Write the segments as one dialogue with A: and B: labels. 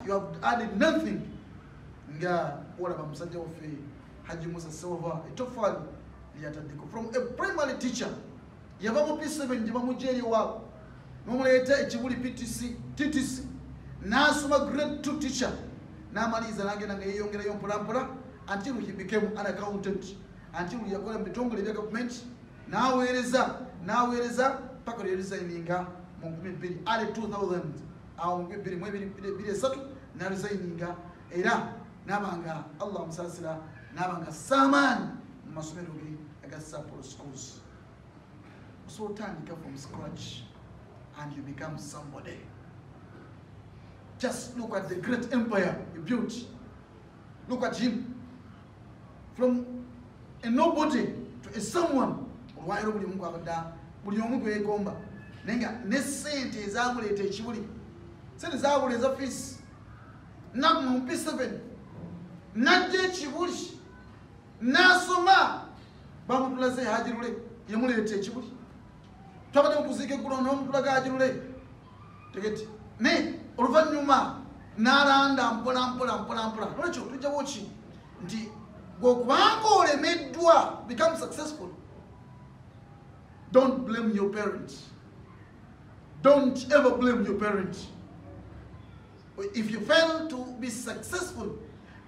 A: you have added nothing nga olaba musajja waffe haji musa silva etofaali lyataddeko from a primary teacher yava mu p7 gye bamugya eriwaabo nomuleeta ekibuli ptc ttc n'asoma grade two teacher n'amaliriza n'agenda nga yeeyongerayo mpolampola until he became an accountant until yakola mu bitongole ebya gavumenti n'aweereza n'aweereza paka lyeresigninga mu 22 000 awo mubibbiri mwebiri esatu naluzayininga era naba nga allah musasira naba nga samaani mu masomero ge aga sapolo schools so otandika from scratch and you become somebody just look at the great empire you built Look at him. From a nobody to a someone. Olwairo buli mungu abada. Buli omu gwe gomba. Nenga ne sente ezamuleta ekibuli. Sente zabule eza fees. Naku mu P7. Najje ekibuli. Nasoma. Bamutulaze hajirule. Yamuleta ekibuli. Twabade mukuzike kulo no mutulaga hajirule. tegeti naye oluvannyuma n'alanda mpola mpola mpola mpola nolwekyo tujjawo ki nti gwokubanga olemeddwa become successful don't blame your parent don't ever blame your parent if you fail to be successful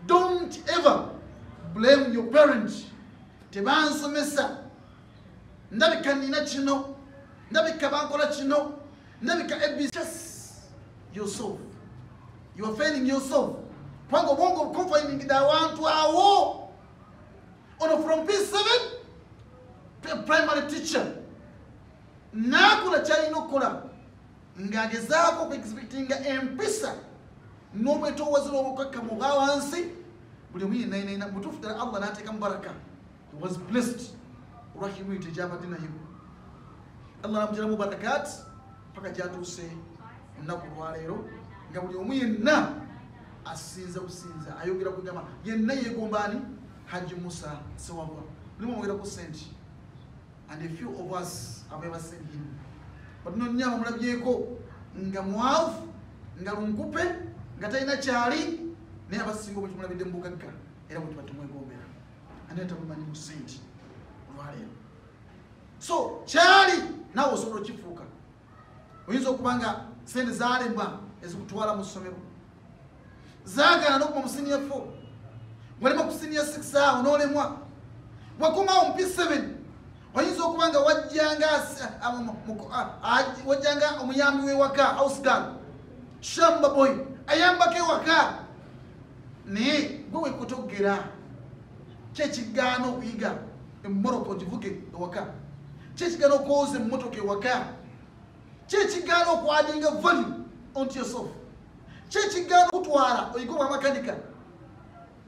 A: don't ever blame your parent tebansomesa ndabika nina kino ndabika bankola kino ndabika abs yourself you are failing yourself kubanga obwongo bukonfayiningide awantu awo ono from p7 to a primary teacher naakola kyalina okukola ng'agezaako okuexpectinga empisa n'obwetoowazi lw'obukakkamu obwa wansi buli omu yenayinaina mutuufu ddala allah n'ateekamu baraka was blessed olwa humility gyabadde nayo allah namujalamu barakat paka gyatuuse ennaku olwaleero nga buli omu yenna asinza businza ayogera kugamba yenna yegomba ani haji musa sewabwa mulimu omwogerako sente and a few of us abebasent him but nonya bamulabyeko nga mwavu nga lunkupe nga talina kyali naye abasinga obukimulabidde mubugagga era bwetubatumwegombera ani atakumanyi mu sente olwaleero so kyali nawe osobola okifuuka oyinza okuba nga sente zalemwa ezikutwala mu ssomero zagana nokuba omusiniya fo walema kusiniya six awo nolemwa wakomawo mpi 7 oyinza okuba nga wajjanga wajjanga omuyambi wewaka ausgal shambaboy ayambako ewaka naye gwe wekutogera kyekigaana okuyiga emoroko givuge ewaka kyekigaana okwoza emotoka ewaka kyekigaana okwadinga value onto yourself kyekigaana okutwala oyige obwamakanika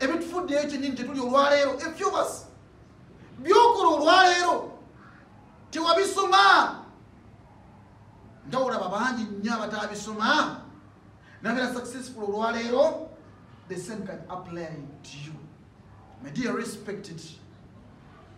A: ebitufuddeyo kyenyini kyetuli olwaleero efyobas byokola olwaleero tewabisoma nga olaba bangi nnyo abatabisoma nabeera successful olwaleero the same can apply to you my dear respected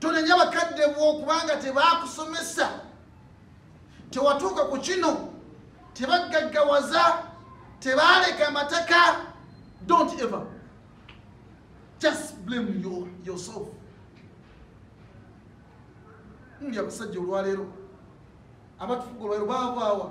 A: tonenya bakadde bwo kubanga tebakusomesa tewatuuka ku kino tebaggaggawaza tebaaleka amataka don't ever just blame your, yourself ndi abasajja olwaleero abatufuga olwaleero baavaawa